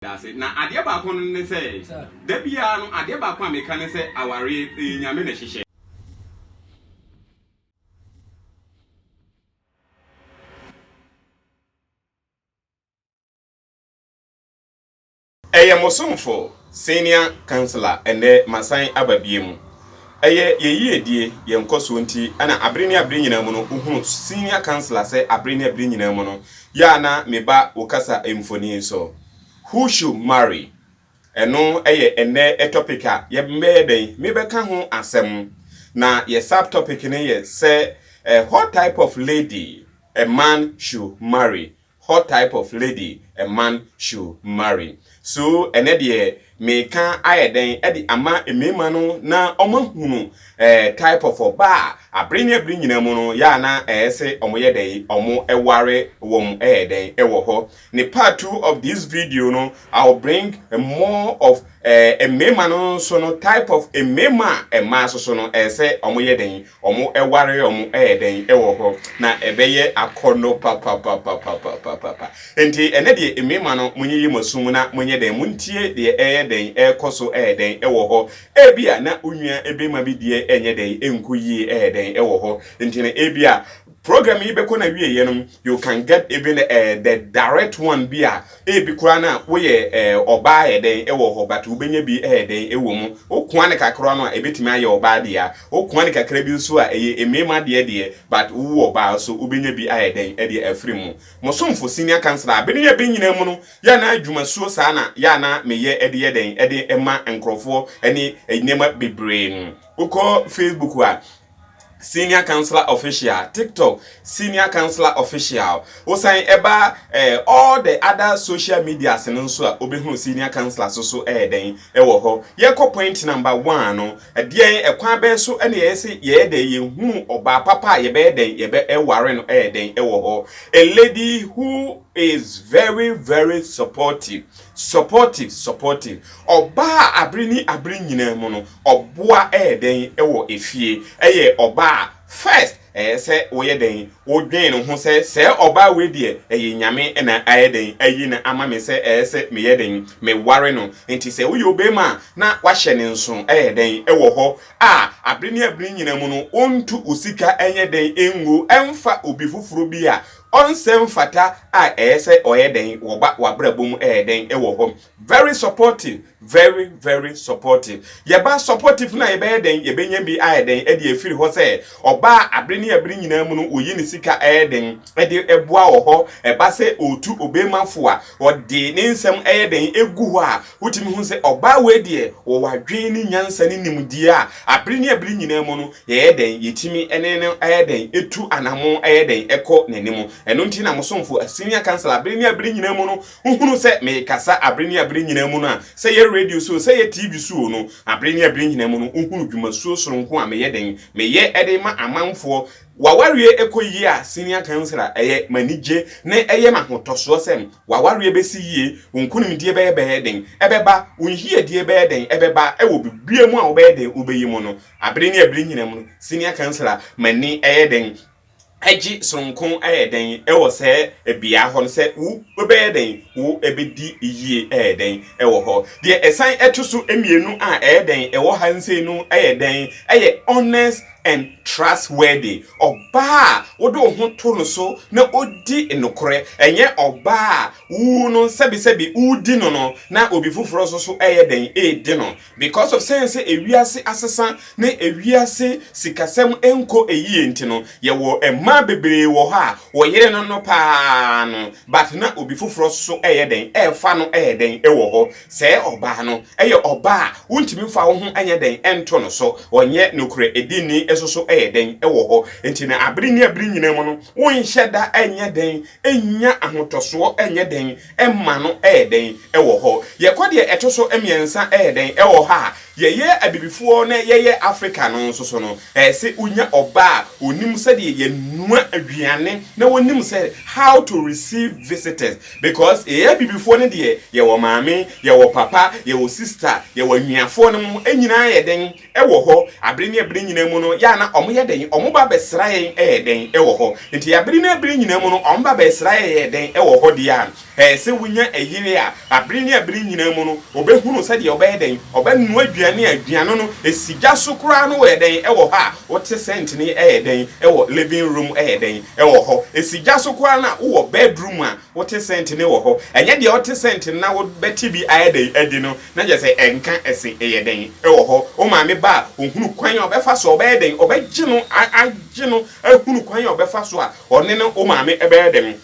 da ase. Na adeɛ baako no ne sɛ, da biara no, adeɛ baako a meka ne sɛ, awareɛ, ɛyɛ Nyame na ɛhyehyɛ. Ɛyɛ mo somfo, senior councillor, ɛnnɛ masan aba biom. Ɛyɛ yɛn yiedie, yɛn nkɔsoɔ nti na abere ne abere nyinaa mu no, wohunu senior councillor sɛ abere ne abere nyinaa mu no, Yɛ a na me ba wo kasa mfoni nso. Who should marry? Ɛno yɛ ɛnnɛ topic a yɛbɛyɛ dɛn mebɛka ho asɛm. Na yɛ sub topic no yɛ sɛ What type of lady a man should marry? What type of lady a man should marry? So ɛnnɛ deɛ Meka ayɛ dɛn de ama mmarima no na wɔahunu eh, type of ɔbaa a abere ne abere nyinaa mu no yɛ a na ɛyɛ sɛ wɔyɛ dɛn wɔware wɔn ɛyɛ dɛn wɔ hɔ. Ne part two of this video no I will bring more of eh, mmarima no nso no type of mmarima a mmaa soso no ɛyɛ sɛ wɔyɛ dɛn Wɔware wɔn dɛn wɔ hɔ? Na ɛbɛyɛ akɔnnɔ papapapapapapa. Enti ɛnnɛ deɛ, mmarima no, monyiyi mo aso mu na monyɛ dɛn? Montie deɛ ɛreyɛ dɛn, ɛrekɔ so yɛ dɛn wɔ hɔ. Ebia na wo nua barima bi deɛ renyɛ dɛn, ɛrenkɔ yie yɛ dɛn wɔ hɔ. Enti no, ebia Program yi bɛkɔ n'awieeɛ no, you can get even uh, the direct one bi a ebi koraa na woyɛ uh, ɔbaa yɛ dɛn wɔ hɔ but wobɛnya bi yɛ dɛn wɔ mu. Wokoa ne kakra no a ebɛtumi ayɛ ɔbaa deɛ, wokoa ne kakra bi nso a ɛyɛ mmarima deɛ deɛ but wowo ɔbaa so wobɛnya bi ayɛ dɛn ɛdeɛ afiri mu. Mo somfo senior councillor abene yɛ bɛ nyinaa mu no yɛ na adwumasuo saa na yɛ na meyɛ ɛde yɛ dɛn ɛde ma nkurɔfoɔ ne nneɛma bebree. Wokɔ Facebook a Senior Counselor Official, TikTok Senior Counselor Official. Wosan ɛba eh, all the other social medias no nso a wobɛhunu Senior Counselor so so ɛyɛ dɛn ɛwɔ hɔ. Yɛkɔ point number one no, ɛdeɛn ɛkwan bɛn so ɛna yɛyɛ se yɛyɛ dɛn yɛhunu ɔbaa papa a yɛbɛyɛ dɛn yɛbɛ ɛware no ɛyɛ dɛn ɛwɔ hɔ. A lady who is very very supportive. Supportive, Supportive, Ɔbaa a abere ne abere nyinaa mu no ɔboa yɛ dɛn wɔ efie? Ɛyɛ ɔbaa a first ɛyɛ sɛ woyɛ dɛn wodwen ne ho sɛ sɛɛ ɔbaa wei deɛ ɛyɛ Nyame na ayɛ dɛn ayi no ama me sɛ ɛyɛ sɛ meyɛ dɛn meware no nti sɛ woyɛ obeema a na wahyɛ ne nsono ɛyɛ dɛn wɔ hɔ a abere ne abere nyinaa mu no wontu wo sika nyɛ dɛn ngu mfa obi foforo bi a Ɔnsɛ mfata a ɛyɛ sɛ ɔyɛ dɛn wɔ ba wabrabɔ mu ɛyɛ dɛn wɔ hɔ very supportive very very supportive yɛ ba supportive no a yɛbɛyɛ dɛn yɛbɛnya bi ayɛ dɛn ɛde afiri hɔ sɛ ɔbaa abere ne abere nyinaa mu no ɔyi ne sika ɛyɛ dɛn ɛde ɛboa wɔ hɔ ɛba sɛ ɔtu obemafo a ɔde ne nsɛm ɛyɛ dɛn ɛgu hɔ a Wotumi hu sɛ ɔbaa wei deɛ ɔwɔ adwene ne nyansa ne nimdeɛ a abere ne abere nyinaa mu no yɛyɛ dɛn yɛtumi ne no yɛ dɛn tu anamo yɛ dɛn kɔ n'anim. Ɛno nti na mo somfo a senior council abere ne abere nyinaa mu no wohunu sɛ mekasa abere ne abere nyinaa mu no a sɛ yɛ radio so o sɛ yɛ TV so o no abere ne abere nyinaa mu no wohunu dwumasuo soronko a meyɛ dɛn meyɛ de ma amanfoɔ W'awareɛ kɔ yie a senior council a ɛyɛ m'anigye na ɛyɛ m'ahotɔsoɔ sɛ W'awareɛ bɛsi yie, wo nkonimdie bɛyɛ bɛyɛ den, ɛbɛba, wo nyiedie bɛyɛ den, ɛbɛba, ɛwɔ biribiara mu a wobɛyɛ den wobɛyi mu no, abere ne abere nyinam no, senior councillor, m'ani ɛyɛ den, ɛgye sononko ɛyɛ den ɛwɔ sɛɛ bea hɔ no sɛ wo wobɛyɛ den wo ɛbɛdi yie ɛyɛ den ɛwɔ hɔ. Deɛ ɛsan ɛto so mmienu a ɛyɛ den ɛwɔ ha nsei no ɛyɛ dɛn ɛyɛ honest and trustworthy, ɔbaa a wode wo ho to no so na odi nokorɛ, ɛnyɛ ɔbaa a wo no sɛbesɛbe wodi no no na obi foforɔ nso so ɛyɛ dɛn ɛredi no because of sɛn sɛ ewiase asesa ne ewiase sikasɛm nkɔ ɛyie nti no yɛwɔ mmaa bebree wɔ hɔ a wɔyere no no paa no but na obi foforɔ so ɛyɛ dɛn ɛrefa no ɛyɛ dɛn ɛwɔ hɔ Sɛ ɔbaa no yɛ ɔbaa a wontumi mfa wo ho nyɛ dɛn nto no so, ɔnyɛ nokorɛ dinni nso so yɛ dɛn wɔ hɔ. Enti na abere ne abere nyinaa mu no, wonhyɛ da nyɛ dɛn nnya ahotɔsoɔ nyɛ dɛn mma no yɛ dɛn wɔ hɔ. Yɛkɔ deɛ ɛto so mmiɛnsa yɛ dɛn wɔ ha a yɛyɛ abibifoɔ na yɛyɛ Afrika no nso so no, ɛsɛ wonya ɔbaa a ɔnim sɛdeɛ yɛnoa aduane na ɔnim sɛ how to receive visitors. Because yɛyɛ abibifoɔ no deɛ yɛwɔ maame, yɛwɔ papa, yɛwɔ sister, yɛwɔ anuafoɔ nom nyinaa yɛ dɛn wɔ hɔ abere ne abere nyinaa mu no yɛ a na ɔmo yɛ dɛn ɔmo ba bɛsra yɛn yɛ dɛn wɔ hɔ nti abere ne abere nyinaa mu no ɔmo ba bɛsra yɛn yɛ dɛn wɔ hɔ deɛ a ɛyɛ sɛ wonya ɛyere a abere ne abere nyinaa mu no ɔbɛhunu sɛdeɛ ɔbɛyɛ dɛn ɔbɛnoa aduane a aduane no ɛsi gya so koraa no wɔ yɛ dɛn wɔ hɔ a wote sɛntene yɛ dɛn wɔ living room yɛ dɛn Ɛwɔ hɔ. Esi gya so koraa na wowɔ bedroom a wote scent no wɔ hɔ. Ɛnyɛ deɛ wote scent no na wobɛte bi ayɛ dɛn adi no na kyerɛ sɛ ɛnka ɛse ɛyɛ dɛn. Ɛwɔ hɔ. Wo maame ba a, ɔhunu kwan a ɔbɛfa so a ɔbɛyɛ dɛn, ɔbɛgye no, agye no ahunu kwan a ɔbɛfa so a ɔne ne wo maame bɛyɛ dɛn.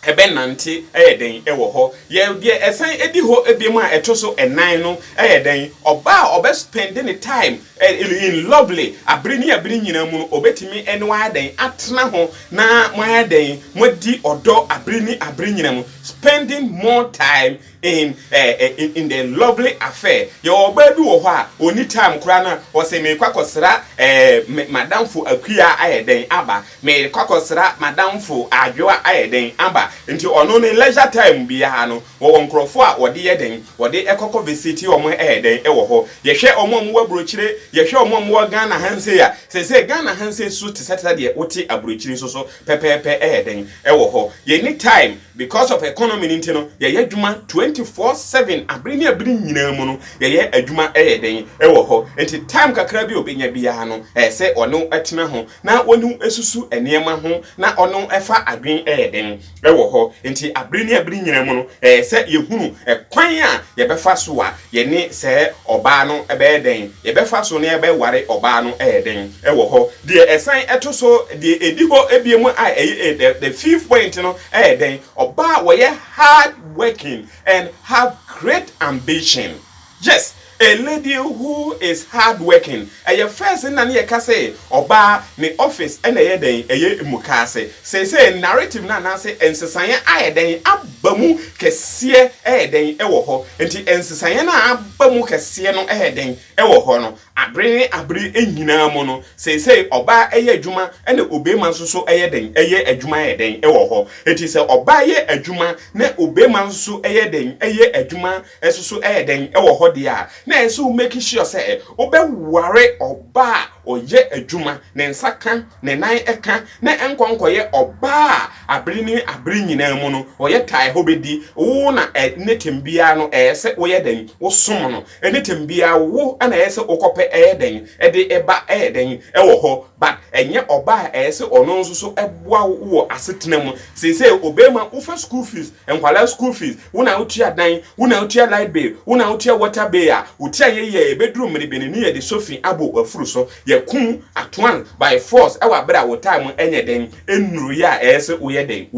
ɛbɛnante yɛ dɛn wɔ hɔ? Yɛ deɛ ɛsan di hɔ biom a ɛto so nnan no yɛ dɛn? Ɔbaa a ɔbɛ spɛnde ne taem in lɔvli abere ne abere nyinaa mu no, ɔbɛtumi ne wo ayɛ dɛn? Atena ho na mo ayɛ dɛn? Moadi ɔdɔ abere ne abere nyinaa mu, spɛnding mɔ taem in eh in the lovely affair yɛwɔ ɔbaa bi wɔ hɔ a ɔni time koraa na ɔsɛ meekɔ akɔsra eh madamfo akua ayɛ dɛn aba meekɔ akɔsra madamfo adwoa ayɛ dɛn aba nti ɔno ne leisure time biara no wɔwɔ nkurɔfoɔ a wɔde yɛ dɛn wɔde ɛkɔkɔ visiti wɔn ɛyɛ dɛn ɛwɔ hɔ yɛhwɛ wɔn a wɔwɔ aburokyire yɛhwɛ wɔn a wɔwɔ Ghana ha nsei a sɛsɛ Ghana ha nsei so te sɛ te sɛ deɛ wote aburokyire nso so pɛpɛɛpɛ ɛyɛ dɛn ɛwɔ hɔ yɛni time Because of economy no nti no yɛyɛ adwuma twenty four seven abere ne abere nyinaa mu no yɛyɛ adwuma ɛyɛ den ɛwɔ hɔ nti time kakra bi a obenya biara no ɛyɛ sɛ ɔne wo ɛtena ho na ɔne wo ɛsusu nneɛma ho na ɔne wo ɛfa adwen ɛyɛ den ɛwɔ hɔ nti abere ne abere nyinaa mu no ɛyɛ sɛ yɛhunu ɛkwan a yɛbɛfa so a Yɛne saa ɔbaa no bɛyɛ dɛn? Yɛbɛfa so na yɛbɛware ɔbaa no yɛ dɛn wɔ hɔ? Deɛ ɛsan to so, deɛ ɛdi hɔ bio mu a ɛyɛ the the fifth point no yɛ dɛn? Ɔbaa a wɔyɛ hard working and have great ambition. Yes, a lady who is hard working. Ɛyɛ first na ne yɛ ka sɛ ɔbaa ne office ɛna ɛyɛ dɛn ɛyɛ mukaase. Seesei narrative no anaase nsesaeɛ ayɛ dɛn aba mu kɛseɛ ɛyɛ dɛn ɛwɔ hɔ. Nti nsesaeɛ no a aba mu kɛseɛ no ɛyɛ dɛn ɛwɔ hɔ no abere ne abere nyinaa mu no seesei ɔbaa ɛyɛ adwuma ɛna obeema nso so ɛyɛ dɛn ɛyɛ adwuma ɛyɛ dɛn ɛwɔ hɔ. Nti sɛ ɔbaa yɛ adwuma na obeema nso so ɛyɛ dɛn ɛyɛ adwuma nso so yɛ dɛn wɔ hɔ deɛ a, na ɛyɛ sɛ wo make sure sɛ wobɛware ɔbaa a ɔyɛ adwuma, ne nsa ka, ne nan ka, na nkɔ nkɔyɛ ɔbaa a abere ne abere nyinaa mu no ɔyɛ tae hɔ bɛdi wo na anytime biara no ɛyɛ sɛ woyɛ dɛn wosom no, anytime biara wo na ɛyɛ sɛ wokɔpɛ ɛyɛ dɛn de ba ɛyɛ dɛn wɔ hɔ but ɛnyɛ ɔbaa a ɛyɛ sɛ ɔno nso so boa wo wɔ asetena mu, seesei ɔbɛma wofa school fees. Nkwadaa school fees, wo na wotua dan, wo na wotua light bill, wo na wotua water bill a, wo ti anyɛ yie a, ɛbɛduru mmere bɛn ne yɛde sofi abɔ w'afuru so, yɛakum atoan by force wɔ abere a wo time ɛnyɛ dɛn, ɛnnuruiɛ a ɛyɛ se woyɛ dɛn,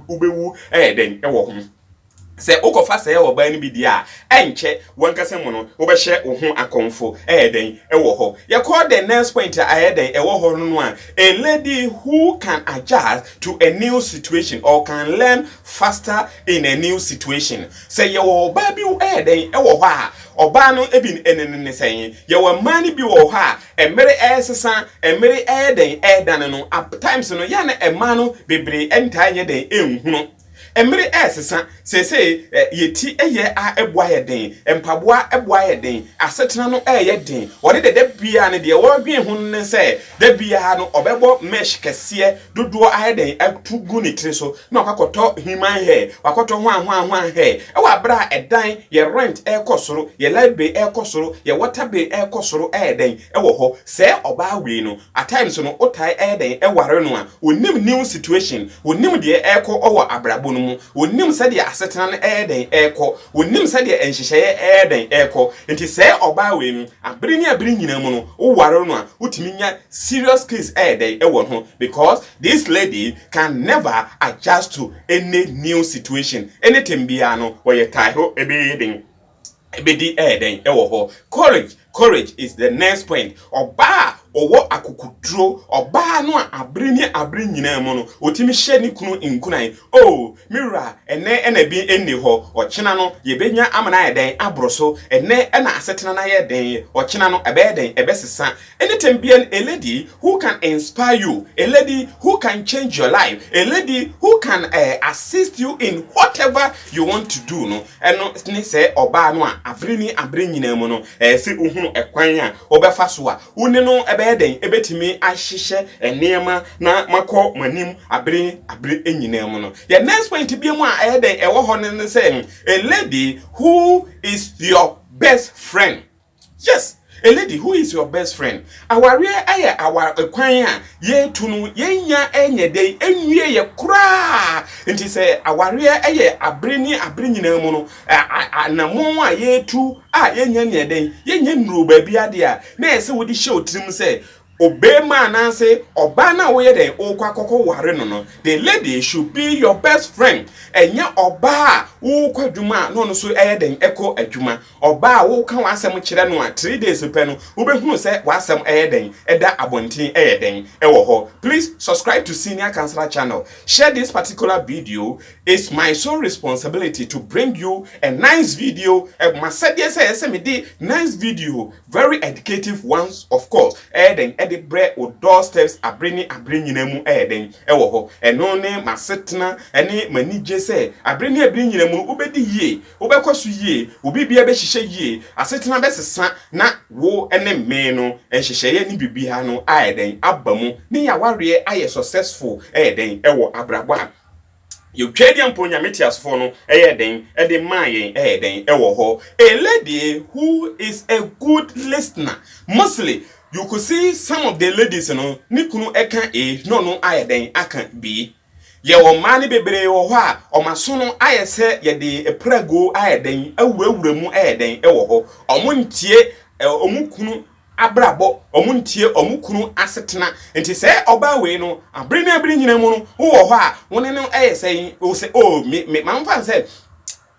wobɛwu ɛyɛ dɛn wɔ ho. Sɛ wokɔfa sɛɛ ɔbaa no bi deɛ a, ɛnkyɛ w'ankasa mu no wobɛhyɛ wo ho akɔmfo ɛyɛ dɛn wɔ hɔ. Yɛkɔ the next point a ɛyɛ dɛn ɛwɔ hɔ no a lady who can adjust to a new situation or can learn faster in a new situation sɛ yɛwɔ ɔbaa bi ɛyɛ dɛn ɛwɔ hɔ a ɔbaa no ebi ɛnenene sɛn yɛwɔ mmaa no bi wɔ hɔ a ɛmere ɛresesa ɛmere ɛyɛ dɛn ɛredane no at times no yɛn na ɛmaa no bebree ɛntaa nyɛ dɛn ɛnhunu Mmere resesa. Seesei yɛn ti yɛ a ɛbo ayɛ den, mpaboa bo ayɛ den, asetena no reyɛ den. Ɔde dɛ da biara no deɛ ɔredwen ho no ne sɛ da biara no ɔbɛbɔ mesh kɛseɛ dodoɔ ayɛ dɛn atu gu ne tiri so na wakɔtɔ human hair, wakɔtɔ hwanhwanhwan hair. Ɛwɔ abere a ɛdan, yɛ rent ɛrekɔ soro, yɛ light bill ɛrekɔ soro, yɛ water bill ɛrekɔ soro ɛyɛ dɛn ɛwɔ hɔ. Sɛɛ ɔbaa wei no, At times no wotae ɛyɛ dɛn ware no a onim new situation, onim deɛ ɛrekɔ wɔ abrabɔ no mu, onim sɛdeɛ asetena no ɛyɛ dɛn ɛrekɔ, onim sɛdeɛ nhyehyɛeɛ ɛyɛ dɛn ɛrekɔ, nti sɛɛ ɔbaa wei no abere ne abere nyinaa mu no wo ware no a wotumi nya serious case ɛyɛ dɛn ɛwɔ ne ho because this lady can never adjust to any new situation, anything biara no wɔyɛ tae ho ɛbɛyɛ den. Ebedi ɛyɛ dɛn wɔ hɔ? Courage, courage is the next point. Ɔbaa a ɔwɔ akokoduro, ɔbaa no a abere ne abere nyinaa mu no, ɔtumi hyɛ ne kunu nkuran. Oh, me wura, ɛnnɛ na bi nni hɔ, ɔkyena no yɛbɛnya ama no ayɛ dɛn? Aboro so. Ɛnnɛ na asetena no ayɛ den, ɔkyena no ɛbɛyɛ dɛn? Ɛbɛsesa. Anytime biara a lady who can inspire you, a lady who can change your life, a lady who can eh, assist you in whatever you want to do no, ɛno ne sɛ ɔbaa no a abere ne abere nyinaa mu no, ɛyɛ sɛ wohunu ɛkwan a wobɛfa so a wo ne no ɛbɛyɛ dɛn, ɛbɛtumi ahyehyɛ nneɛma na makɔ mo anim abere ne abere nyinaa mu no. Yɛ next point bi mu a ɛyɛ dɛn ɛwɔ hɔ no ne sɛ a lady who is your best friend. Yes a lady who is your best friend awareɛ ɛyɛ awa kwan a yɛretu no yɛnya ɛnyɛ dɛn ɛnwie yɛ koraa nti sɛ awareɛ ɛyɛ abere ne abere nyinaa mu no anamɔn a yɛretu a yɛnya neɛ dɛn yɛnya nnuro baabi adeɛ a na ɛsɛ wode hyɛ otirim sɛ Ɔbarima anaase ɔbaa no a woyɛ dɛn wokɔ akɔkɔ ware no no, the lady should be your best friend. Ɛnyɛ ɔbaa a wokɔ adwuma a na ɔno nso ɛyɛ dɛn ɛkɔ adwuma. Ɔbaa a woka w'asɛm kyerɛ no a three days pɛ no wobɛhunu sɛ w'asɛm ɛyɛ dɛn ɛda abɔnten ɛyɛ dɛn ɛwɔ hɔ. Please subscribe to Senior Counselor channel. Share this particular video. It's my sole responsibility to bring you a nice video. Ɛmasɛdeɛ sɛ ɛsɛ mede nice video Very educative ones of course ɛyɛ dɛn ɛde brɛ wo door steps abere ne abere nyinaa mu ɛyɛ dɛn ɛwɔ hɔ ɛno ne m'asetena ɛne m'anigye sɛ abere ne abere nyinaa mu no wobɛdi yie wobɛkɔ so yie wo biribiara bɛhyehyɛ yie asetena bɛsesa na wo ɛne me no nhyehyɛeɛ ne biribiara no ayɛ dɛn aba mu ne y'awareɛ ayɛ successful ɛyɛ dɛn ɛwɔ abrabɔ a Yɛ Twɛdeɛ mpo Nyame teasefoɔ no yɛɛ dɛn de maa yɛn ɛyɛ dɛn wɔ hɔ A lady who is a good listener mostly you could see some of the ladies no ne kunu ka A na ɔno ayɛ dɛn aka B Yɛwɔ mmaa no bebree wɔ hɔ a wɔn aso no ayɛ sɛ yɛde prɛgoo ayɛ dɛn awurawura mu ɛyɛ dɛn wɔ hɔ Wɔn ntie wɔn kunu abrabɔ, wɔn nteɛ, wɔn kunu asetena. Nti sɛ ɔbaa wei no, abere ne abere nyina mu no, wo wɔ hɔ a, wo ne no yɛ sɛn? Wo sɛ, oh, me, me, ma mfa nsɛ,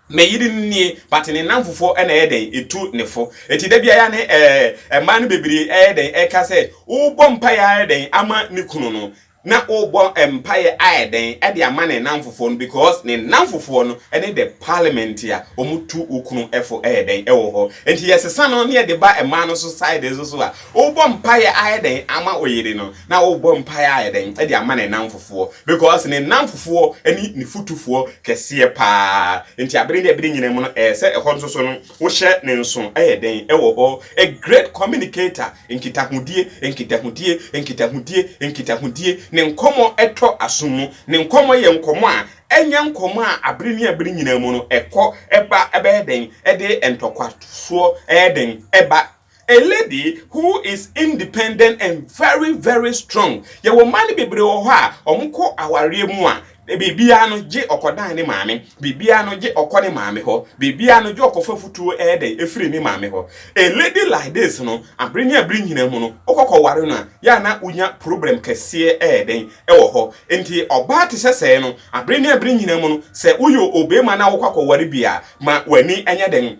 me yere no nie, but ne nnamfofoɔ na ɛyɛ dɛn? Ɛtu ne fo. Nti da biara ne ɛɛ, mmaa no bebree ɛyɛ dɛn? Ɛka sɛ, wobɔ mpaeɛ ara dɛn ama ne kunu no? na ɔrebɔ mpaeɛ ayɛ dɛn de ama ne nnamfofoɔ no because ne nnamfofoɔ no ne the parliament a wɔtu wo kunu fo ɛyɛ dɛn ɛwɔ hɔ nti yɛsesa no ne yɛde ba mmaa no so side nso so a wobɔ mpaeɛ ayɛ dɛn ama oyere no na wobɔ mpaeɛ ayɛ dɛn de ama ne nnamfofoɔ because ne nnamfofoɔ ne ne futufoɔ kɛseɛ paa nti abere ne abere nyina mu no ɛyɛ sɛ ɛhɔ nso so no Wohyɛ ne nso yɛ dɛn wɔ hɔ? A Great Communicator, Nkitahodie, Nkitahodie, Nkitahodie, Nkitahodie, Ne nkɔmmɔ tɔ asom mu. Ne nkɔmmɔ yɛ nkɔmmɔ a ɛnyɛ nkɔmmɔ a abere ne abere nyinaa mu no ɛkɔ ba bɛyɛ dɛn de ntɔkwasoɔ yɛ dɛn ba A lady who is independent and very very strong. Yɛwɔ mmaa no bebree wɔ hɔ a wɔkɔ awareɛ mu a biribiara no gye ɔkɔdan ne maame, biribiara no gye ɔkɔ ne maame hɔ, biribiara no gye ɔkɔfa futuo ɛyɛ dɛn ɛfiri ne maame hɔ. A lady like this no, abere ne abere nyinaa mu no, wokɔkɔ ware no a, yɛ a na wonya problem kɛseɛ ɛyɛ dɛn ɛwɔ hɔ. Nti ɔbaa te sɛ sɛɛ no, abere ne abere nyinaa mu no, sɛ woyɛ obeema na wokɔ akɔware bi a, ma w'ani ɛnyɛ dɛn,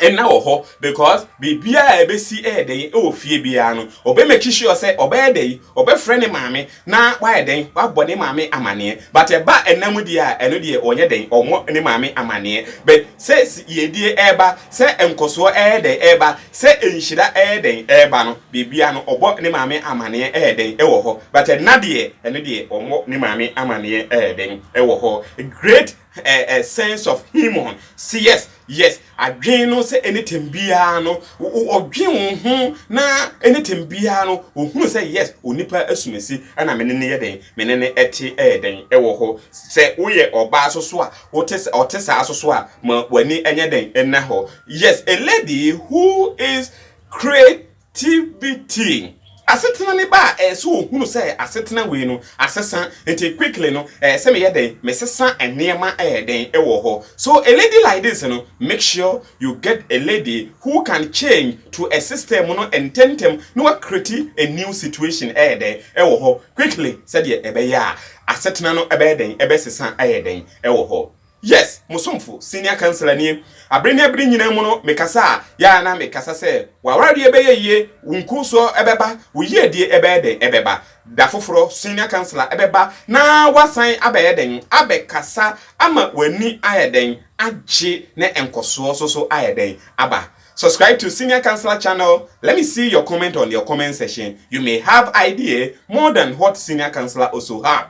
nna wɔ hɔ because biribiara a ɛbɛsi ɛyɛ dɛn ɛwɔ fie biara no ɔbɛ make sure sɛ ɔbɛyɛ dɛn ɔbɛfrɛ ne maame na wayɛ dɛn wabɔ ne maame amaneɛ but ɛba nna mu deɛ a ɛno deɛ ɔnyɛ dɛn ɔmmɔ ne maame amaneɛ but sɛ yiedie ɛɛba sɛ nkɔsoɔ ɛyɛ dɛn ɛɛba sɛ nhyira ɛyɛ dɛn ɛɛba no biribiara no ɔbɔ ne maame amaneɛ ɛyɛ dɛn ɛwɔ hɔ but ɛnna deɛ ɛno deɛ ɔmmɔ ne maame amaneɛ ɛyɛ dɛn ɛwɔ hɔ great a a sense of human say yes yes adwen no sɛ anything biara no ɔdwen wo ho na anything biara no ɔhunu sɛ yes onipa asumasi ɛna mene ne yɛ dɛn mene ne ɛte ɛyɛ dɛn ɛwɔ hɔ sɛ woyɛ ɔbaa so so a wote sɛ ɔte saa so so a ma w'ani ɛnyɛ dɛn ɛna hɔ yes a lady who is create TBT, asetena ne ba a ɛyɛ sɛ ohunu sɛ asetena wei no asesa nti quickly no ɛyɛ sɛ meyɛ dɛn mesesa nneɛma ɛyɛ dɛn ɛwɔ hɔ so a lady like this no make sure you get a lady who can change to a system no ntɛntɛm na wa create a new situation ɛyɛ dɛn ɛwɔ hɔ quickly sɛdeɛ ɛbɛyɛ a asetena no ɛbɛyɛ dɛn ɛbɛsesa ɛyɛ dɛn ɛwɔ hɔ Yes, mo somfo, senior councillor nie. Abere ne abere nyinaa mu no, mekasa a, yɛ ara na mekasa sɛ, W'awareɛ bɛyɛ yie, wo nkɔnsuo bɛba, wo yiedie bɛyɛ dɛn? Ɛbɛba. Da foforɔ, senior councillor bɛba na wasan abɛyɛ dɛn? Abɛkasa ama w'ani ayɛ dɛn? Agye ne nkɔsoɔ so so ayɛ dɛn? Aba. Subscribe to senior councillor channel, let me see your comment on your comment section, you may have idea more than what senior councillor also have.